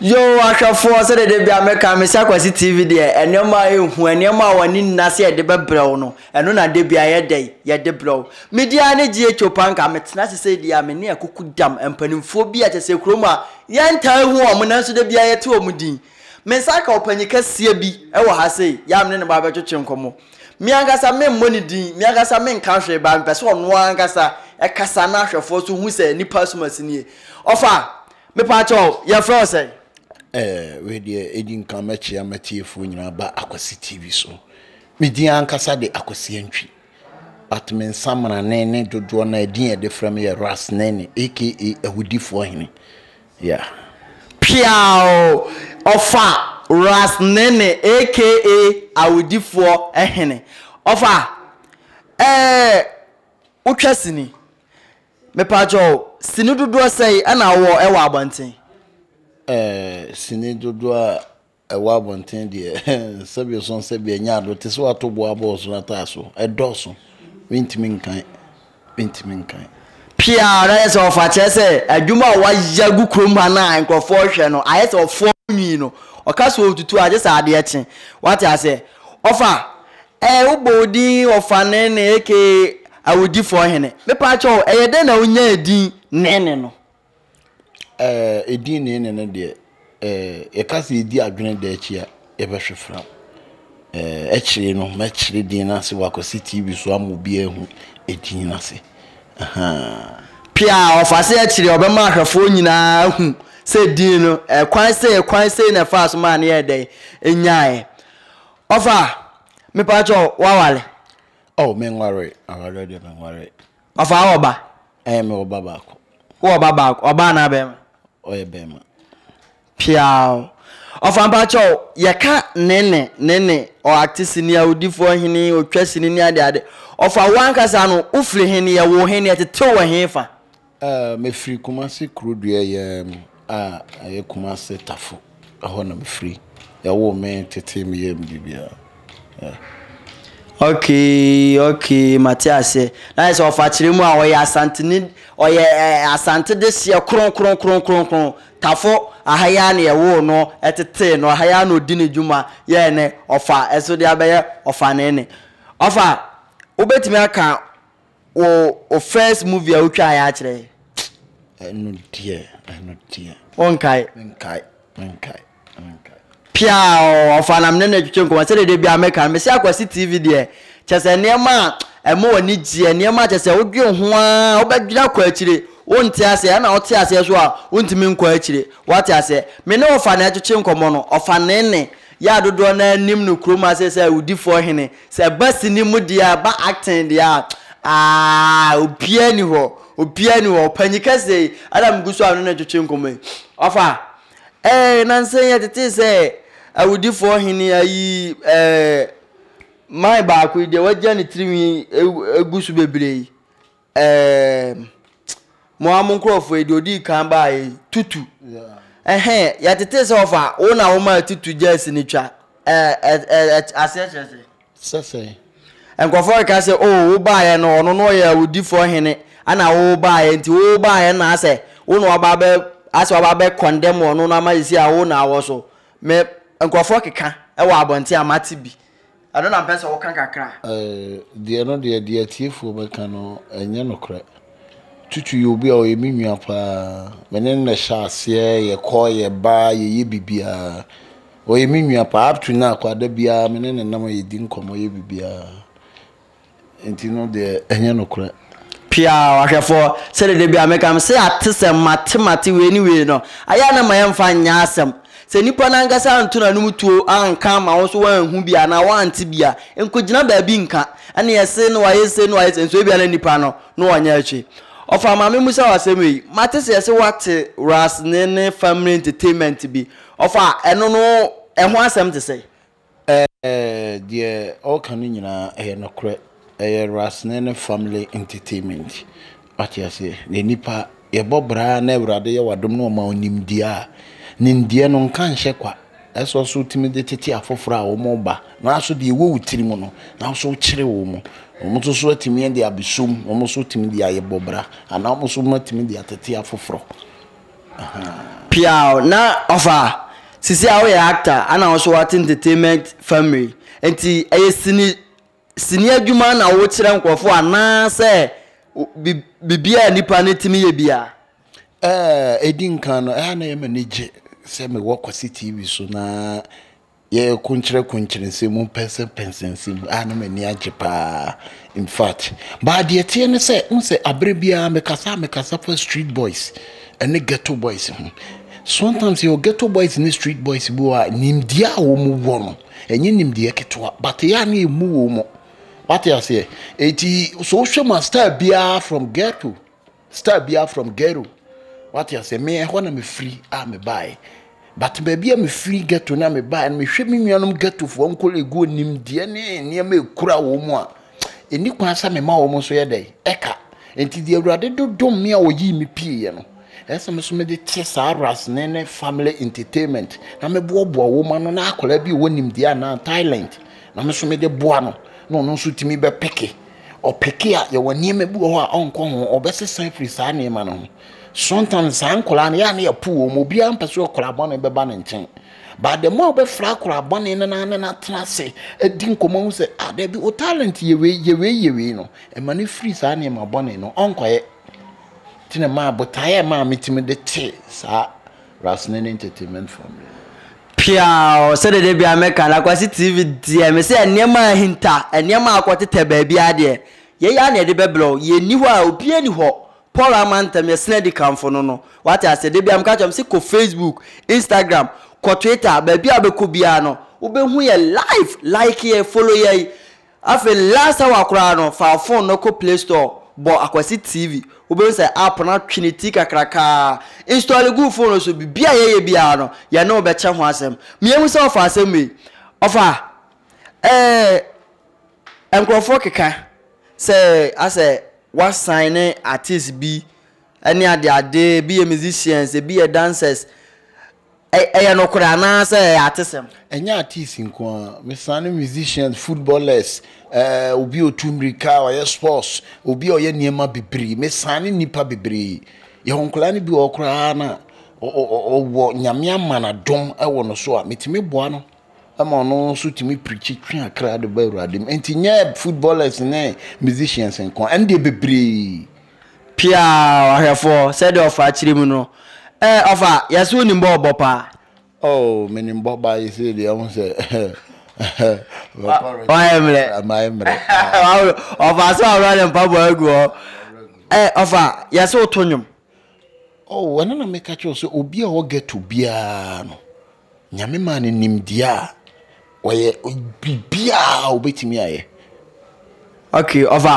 Yoo ahwɛfoɔ sɛdeɛ da bia meka me sɛ Akwasi TV deɛ nneɛma a ɛhu nneɛma a w'ani nna sɛ yɛde bɛbrɛ wo no ɛno na da bia yɛdɛ yɛde brɛ wo medi ara ne GH Opanka metena ase sɛ deɛ a me ne akuku dam mpanimfoɔ bi a kyɛ sɛ kurom a yɛntaa hu wɔn nanso da bia yɛte wɔn din me nsa aka ɔpanyin kɛseɛ bi wɔ ha sei yɛ a me ne no ba bɛtwetwe nkɔmmɔ me ankasa me mmɔ ne din me ankasa me nka hwee baa mepɛ sɛ ɔno ankasa ɛkasa na ahwɛfoɔ so hu sɛ nipa asomasi nie ɔfa Mepaakyɛw yɛfrɛ wo sɛn? Ɛɛ, wei deɛ ɛdi nkan mɛkyea m'atiefoɔ nyinaa ba Akwasi TV so. Me din ankasa de Akwasi Antwi. But me nsamena ne ne dodoɔ no a ɛdin a ɛde frɛ me yɛ Ras Nene aka Awudifoɔ Hene. Yeah. Piaw! Ɔfa Ras Nene aka Awudifoɔ Hene. Ɔfa, ɛɛ, wotwa sini. Mepaakyɛw, sini dodoɔ sɛn na wowɔ wɔ abɔnten? Ɛɛ, sini dodoɔ a ɛwɔ abɔnten deɛ, sɛbio so sɛbio ɛnyɛ ado, te sɛ wato boɔ abɔ ɔsoro ataa so, ɛdɔɔso, mentumi nkan, mentumi nkan. Pia, na ayɛ sɛ ɔfa, kyerɛ sɛ adwuma a wɔayɛ agu kurom ha no a nkurɔfoɔ rehwɛ no, ayɛ sɛ ɔfoɔ nwi no, ɔka sɛ ɔretutu a gye sɛ adeɛ kye, wate aseɛ? Ɔfa, Ɛɛ wobɔ wo din ɔfa Nene aka awudifoɔ hene. Mepaakyɛw ɛyɛ dɛn na wonya edin Nene no? Ɛɛ edin Nene no deɛ ɛɛ yɛka sɛ yɛdi adwene da akyi a yɛbɛhwe fra. Ɛɛ ɛkyerɛ no mɛkyerɛ din no ase wɔ akwasi TV so ama obi ahu edin no ase. Ahaa. Pia ɔfa se ɛkyerɛ ɔbɛma ahwɛfoɔ nyinaa ahu sɛ din no ɛkwan sei ɛkwan sei na ɛfaa so maa no yɛɛ dɛn ɛnyaaɛ. Ɔfa, mepatwɔ wawale? Oh, menwaree, awareɛ deɛ menwaree. Ɔfa, wowɔ ba? Ɛɛ, mewɔ ba baako. Wowɔ ba baako, ɔbaa anaa bɛrima? Ɔyɛ bɛrima. Piaw. Ɔfa, mpatwɔ, yɛka Nene, Nene, ɔacte sini, awudifoɔ hene, otwa sini ne adeade. Ɔfa, wo ankasa no, wofiri he ne yɛwoo he ne yɛtetew wɔ he fa? Ɛɛ me firi kumase kuro dua yɛ a ɛyɛ kumase tafo ɛhɔ na me firi yɛ wo me tete me yɛ me bibia yeah. Okay okay mate aseɛ na ayɛ sɛ ɔfakyerɛ mu a ɔyɛ asante ne ɔyɛ ɛɛ asante de seɛ kron kron kron kron kron tafo aha yɛ a na yɛwoo no ɛtetee no aha yɛ a na ɔdi ne dwuma yɛ ne ɔfa ɛso de abɛyɛ ɔfa ne ne ɔfa wobɛtumi aka wo wo first movie a wotwa ayɛ akyerɛ yɛ. ɛno deɛ ɛno deɛ. wonkae. menkae menkae menkae. pia ɔfa nam ne ne twetwe nkɔmɔ sɛdeɛ deɛ bia meka no mesi akwasi tv deɛ kyɛ sɛ nneɛma a ɛma wɔ ani gyeɛ nneɛma a kyɛ sɛ wodwen ho a wobɛdwene akɔ akyire wonte aseɛ ɛna wote aseɛ so a wontumi nkɔ akyire wate aseɛ me ne ɔfa na ɛtwetwe nkɔmɔ no ɔfa ne ne yɛ adodoɔ no anim no kurom ase sɛ awudifoɔ hene Sɛ ɛba sini mu deɛ a, ɛba acting deɛ a, aah, obiara nni hɔ, obiara nni hɔ. Ɔpanyin kɛseɛ yi, ɛna megu so a ɔne no retwetwe nkɔmmɔ yi. Ɔfa, ɛɛ, nnansa yi yɛtetee sɛ awudifoɔ hene ayi, ɛɛ, man baako yi deɛ wɔagya ne tirinwi agu so bebree yi. Eeemm mo ara mo nkorɔfoɔ yi deɛ ɔdii kan baeɛ yi tutu ɛhɛn yɛtetee sɛ ɔfa wo na womaa tutu gyɛɛse no twa ɛɛ aseɛ kyerɛ sɛ. Sɛ sɛn. Nkurɔfoɔ reka sɛ oo wo baeɛ no ɔno na ɔyɛ awudifoɔ hene ɛna wo baeɛ nti wo baeɛ na asɛ wo na waba abɛ asɛ waba abɛ condemn ɔno no ama sisi a wo na awɔ so me nkurɔfoɔ keka ɛwɔ abɔnten a mate bi. Ɛno na mpɛ sɛ woka kakra. Eh, deɛ no deɛ, deɛ atiefoɔ bɛka no, ɛnyɛ nokorɛ. Tutu yɛ obi a ɔyɛ me nua paa. Me ne no na ɛhyɛ aseɛ, yɛkɔ, yɛba, yɛyɛ biribiara. Ɔyɛ me nua paa, up to now koraa, da biara me ne no nam a yɛdi nkɔmmɔ yɛ biribiara. Enti no deɛ ɛnyɛ nokorɛ. Pia o ahwɛfoɔ sɛdeɛ da biara meka mesɛ atesɛm mate mate wei ne wei no ayɛ a na ma yɛmfa nyɛ asɛm sɛ nnipa no ankasa anto n'anom tuo anka ama wo nso woanhu bi anaa woante bi a nkɔgyina baabi nka ɛne yɛse na wayɛ sei na wayɛ sei nso ebia na nnipa no na ɔnyɛ akyi Ɔfa ma memmusa wo asɛm wei mate sɛ yɛse woate Rasne ne Family Entertainment bi ɔfa ɛno no ɛho asɛm te sɛn? Ɛɛ, deɛ ɔreka no nyinaa ɛyɛ nokorɛ. Ɛyɛ Rasneh ne family entertainment. Wate aseɛ? Na nnipa yɛbɔ bra na Awurade yɛ w'adom na ɔma wo nimdeɛ a, nimdeɛ no nka nhyɛ kwa. Ɛsɛ ɔso wotumi de tete afoforɔ a wɔn ba na aso deɛ ɛwɔ wo tiri mu no na aso wokyerɛ wɔn mu. Wɔn nso so atumi de abɛsom, wɔn nso tumi de ayɛ bɔ bra anaa wɔn nso wɔatumi de atete afoforɔ. Piaw na ɔfa sisi a woyɛ actor ana wo so wate entertainment family nti ɛyɛ sini sini adwuma na wokyerɛ nkurɔfo anaasɛ biribiara a nipa no tumi yɛ bia. Ɛɛ edi nkan no ɛha na ɛyɛ m'ani gye sɛ mewɔ Kwasi TV so na yɛyɛ kunkyerɛ kunkyerɛ nsɛm mu pɛnsɛn pɛnsɛn nsɛm mu a na m'ani agye paa in fact baa deɛ teɛ ne sɛ n sɛ abere biara mekasa a mekasa fa street boys ɛne ghetto boys ho sometimes yɛwɔ ghetto boys ne street boys bi wɔ a nimdeɛ a wɔn wɔ no ɛnyɛ nimdeɛ ketewa but yɛ a ne yɛ mu wɔn wate aseɛ eti so wohwɛ mu a star biara from ghetto Star biara from ghetto wate aseɛ me ɛhɔ na mefiri a mebaeɛ but baabi a mefiri ghetto no a mebaeɛ no mehwɛ me nuanom ghettofoɔ nkɔlɛguo nimdeɛ ne nneɛma ɛkura wɔ mu a ɛni kwan sɛ mema wɔ mu so yɛ dɛn ɛka nti deɛ awurade dodom me a ɔyii me pieeɛ no ɛsɛ me so mede te saa rasene ne family entertainment na meboaboa wɔ mu ano na akwadaa bi ɔwɔ nimdeɛ anaa talent na me so mede boa no na ɔno nso tumi bɛpeke Ɔpeke a, yɛwɔ nneɛma bi wɔ hɔ a ɔnkɔ ho, ɔbɛsesa afiri saa nneɛma no ho. Sometimes saa nkwadaa no yɛ a na yɛpo wɔn, obiara mpɛ sɛ ɔkwadaa bɔne bɛba ne nkyɛn. But the more wobɛfra akwadaa bɔne no na ne no atena ase adi nkɔmmɔ ho sɛ, ah, dabi, wo talent yɛ wei, yɛ wei, yɛ wei no, ɛma no firi saa nneɛma bɔne no, ɔnkɔyɛ. Nti na maa botaeɛ a ɛmaa metumi de tee saa Rasnene entertainment family. Piaw, sɛdeɛ da biara meka no, Akwasi TV deɛ, mesɛ nneɛma a ahinta, nneɛma a akɔtetɛ baabiara deɛ, yei ara na yɛde bɛbrɛ wo. Yɛnni hɔ a, obiara nni hɔ. Paul Amantam, yɛsene adikanfo no no. Woate aseɛ? Da biara meka kyerɛ wɔn sɛ, kɔ Facebook, Instagram, kɔ Twitter, baabi a wobɛkɔ biara no, wobɛhu yɛn live. Like yɛn, follow yɛn. Afei last hour koraa no fa wo phone no kɔ play store bɔ Akwasi TV wobɛhu sɛ app no atwe ne ti kakrakaa. Install gu wo phone no so biribi a yɛyɛ biara no yɛne wo bɛkyɛ ho asɛm. Meahu sɛ ɔfa asɛm wei ɔfa eh nkurɔfoɔ keka sɛ asɛ wasan ne artist bi ne adeade ebi yɛ musicians ebi yɛ dancers Ɛyɛ nokorɛ anaa sɛ ɛyɛ atesɛm? Ɛnyɛ artiste nko ara, mesesa ne musicians, footballers, eh, obi a ɔtu mmirika, ɔyɛ sports, obi a ɔyɛ nneɛma bebree, mesesa ne nnipa bebree. Yɛwɔ nkwadaa no bi wɔ hɔ koraa no a, ɔwɔ, Nyame ama no adom wɔ no so a, metumi boa no ma ɔno nso tumi pirikyi twe akra de ba Awurade mu. Enti nyɛ footballers ne musicians nko ara, ɛno deɛ bebree. Pia ɔhwɛfoɔ sɛdeɛ ɔfa akyire mu no eh ɔfa yɛse wonim bɔ ɔbɔ paa. Oh menim bɔ ba yi sei deɛ ho sɛ wayɛ mmerɛ mayɛ mmerɛ ɔfa sɛ ɔwerɛ ne mpaboa agu hɔ eh ɔfa yɛse woto nwom. Oh ɛno na meka kyerɛ sɛ obi a ɔwɔ ghetto biara no Nyame maa no nimdeɛ a ɔyɛ biribiaa a ɔbɛtumi ayɛ. Ok ɔfa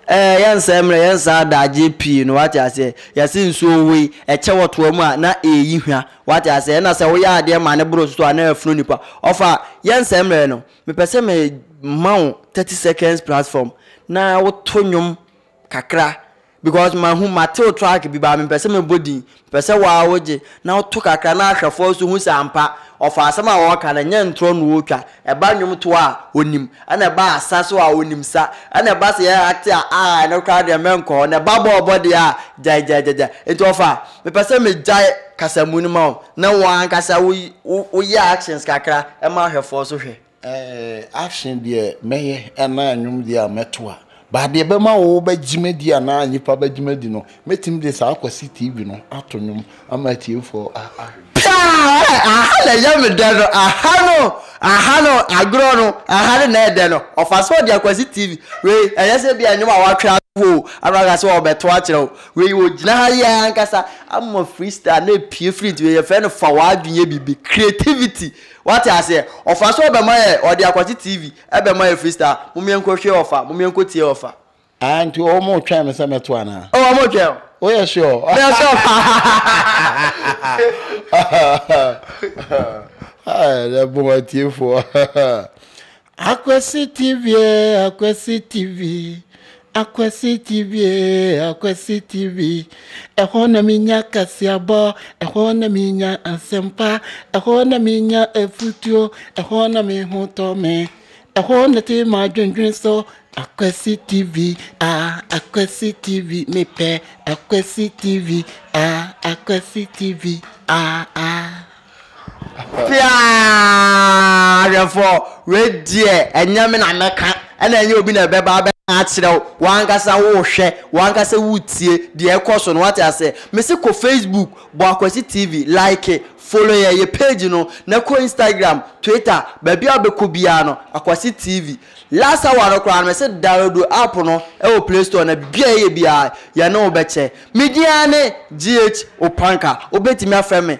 ɛɛ yɛnsɛe mmerɛ yɛnsa adagyeɛ pii no wate aseɛ yɛse nsuo wei ɛkyɛ wɔ toa mu a na ɛɛyi hwa wate aseɛ ɛna sɛ woyɛ adeɛ ma no boro so a na afunu nipa ɔfa yɛnsɛe mmerɛ no mepɛ sɛ me ma wo 30 seconds platform na woto nnwom kakra Because mahu mate wo track bi baa mempɛ sɛ mebɔ din mepɛ sɛ woaa wogye na woto kakra na ahwɛfoɔ nso hu sɛ ampa ɔfa asɛm a ɔɔka no ɛnyɛ ntorɔ na ɔɔtwa ɛba nnwom toɔ a ɔnim ɛna ɛba asa so a ɔnim sa ɛna ɛba sɛ yɛ acte a aa ɛno koraa deɛ mɛnkɔ hɔ na ɛba bɔɔ bɔ deɛ a gyaegyaegyagya nti ɔfa mepɛ sɛ megyae kasamu no ma wo na wo ankasa wo woyɛ actions kakra ɛma ahwɛfoɔ nso hwɛ. Ɛɛ ahwe deɛ mɛyɛ anaa nnwom deɛ a mɛto a, but deɛ ɛbɛma wo bɛgyima di anaa nnipa bɛgyima di no, mɛtumi de saa Kwasi TV no ato nnwom ama atiefoɔ a ahwe. Paa ɛ, aha na ɛyɛ me dɛ no, aha no, aha no, agorɔ no, aha no na ɛyɛ dɛ no, ɔfa sɛ ɔde Akwasi TV wei, ɛnyɛ sɛ ebia nnwom a watwe ato o, ana waka sɛ ɔbɛto akyerɛ wo, wei ɔgyina ha yɛ ankasa ama freestyle na ɛpue firi nti wei yɛfrɛ no fa w'adwene yɛ biribi, creativity Wate aseɛ? Ɔfa so ɔbɛma yɛ, ɔde akwati TV bɛma yɛ free star, mom yɛnkɔ hwɛ ɔfa, mom yɛnkɔ tie ɔfa. Ah nti ɔmo twɛn me sɛ mɛto anaa? Oh ɔmo twɛn wo. Woyɛ sure? Me yɛ sure paa. Ɛbon atiefoɔ. Akwasi TV ee Akwasi TV Akwasi TV ee Akwasi TV Ɛhɔ na menya kaseabɔ Ɛhɔ na menya asɛmpa Ɛhɔ na menya afutuo Ɛhɔ na me ho tɔ me Ɛhɔ na te m'adwendwen so Akwasi TV ah Akwasi TV mepɛ Akwasi TV ah Akwasi TV ah ah Fiaa hwɛfoɔ, wei deɛ ɛnyɛ me na mɛka, ɛna ɛnyɛ obi na ɛbɛba abɛka akyerɛ wo, wo ankasa wohwɛ, wo ankasa wotie deɛ ɛkɔ so no, wate aseɛ. Mese kɔ Facebook, bɔ Akwasi TV, like, follow yɛn, yɛ page no, na kɔ Instagram, Twitter, baabi a wobɛkɔ biara no, Akwasi TV. Last hour no koraa no, mese download app no wɔ Play Store na bia ɛyɛ biara, yɛne wo bɛkyɛ. Me din ara ne GH Opanka, wobɛtumi afrɛ me